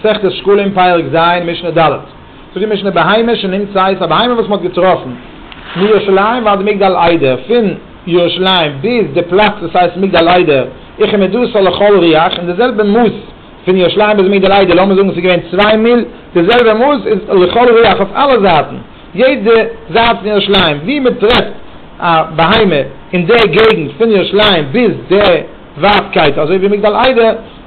מסכת שקלים פרק ז' משנה ד', זאגט די משנה בהמה שנמצאת, א בהמה וואס מען האט געטראפן, מירושלים ועד מגדל עדה, פון ירושלים ביז די פלאץ וואס הייסט מגדל עדה, איכא מדוסא לכל ריח, און די זעלבע מאס פון ירושלים ביז מגדל עדה, לאמיר זאגן עס איז געווען צוויי מיל, די זעלבע מאס איז לכל ריח אויף אלע זייטן, יעדע זייט פון ירושלים וואו מען טרעפט א בהמה אין די געגנט פון ירושלים ביז די ווייטקייט אזוי ווי מגדל עדה,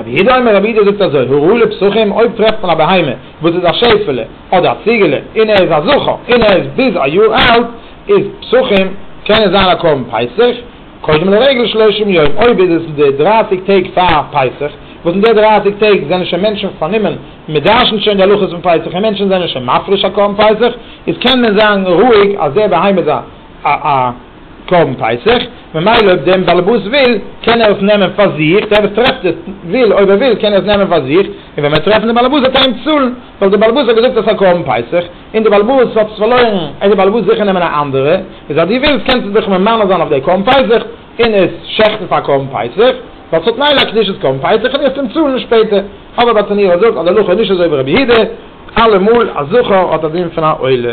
רבי אידא אומר רבי אידא זאגט אזוי, הראו לי פסחים, אויב טרעפט מען א בהמה וואס איז א שעפעלע אדער א ציגעלע און ער איז א זכר און ער איז ביז א יאר אלט איז פסחים קען עס זיין א קרבן פסח קודם לרגל שלושים יום אויב איז עס די דרייסיג טעג פאר פסח וואס אין די דרייסיג טעג זענען שוין מענטשן פארנומען מיט דרש'נט שוין די הלכות פון פסח און מענטשן זענען שוין מפריש א קרבן פסח איז קען מען זיין רואיג אז די בהמה איז א קרבן פסח, ממילא אויב דעם באלעבאס וויל קען ער עס נעמען פאר זיך, דער וואס טרעפט עס וויל אויב ער וויל קען ער עס נעמען פאר זיך, און ווען מ'וועט טרעפן דעם באלעבאס וועט ער אים צאלן, ווייל דער באלעבאס האט געזאגט עס פאר קרבן פסח, און דער באלעבאס האט עס פארלוירן, העט דער באלעבאס זיכער נעמען א אנדערע, איז אז דו ווילסט קענסטו דיך ממנה זיין אויף דער קרבן פסח און עס שעכטן פאר קרבן פסח, ווייל ס'האט מילא א קדושת קרבן פסח און דו וועסט אים צאלן שפעטער, אבער ביי תניאו זאגט אז דער הלכה איז נישט אזוי ווי רבי יהודה, אלעמאל א זכר האט א דין פון א עולה.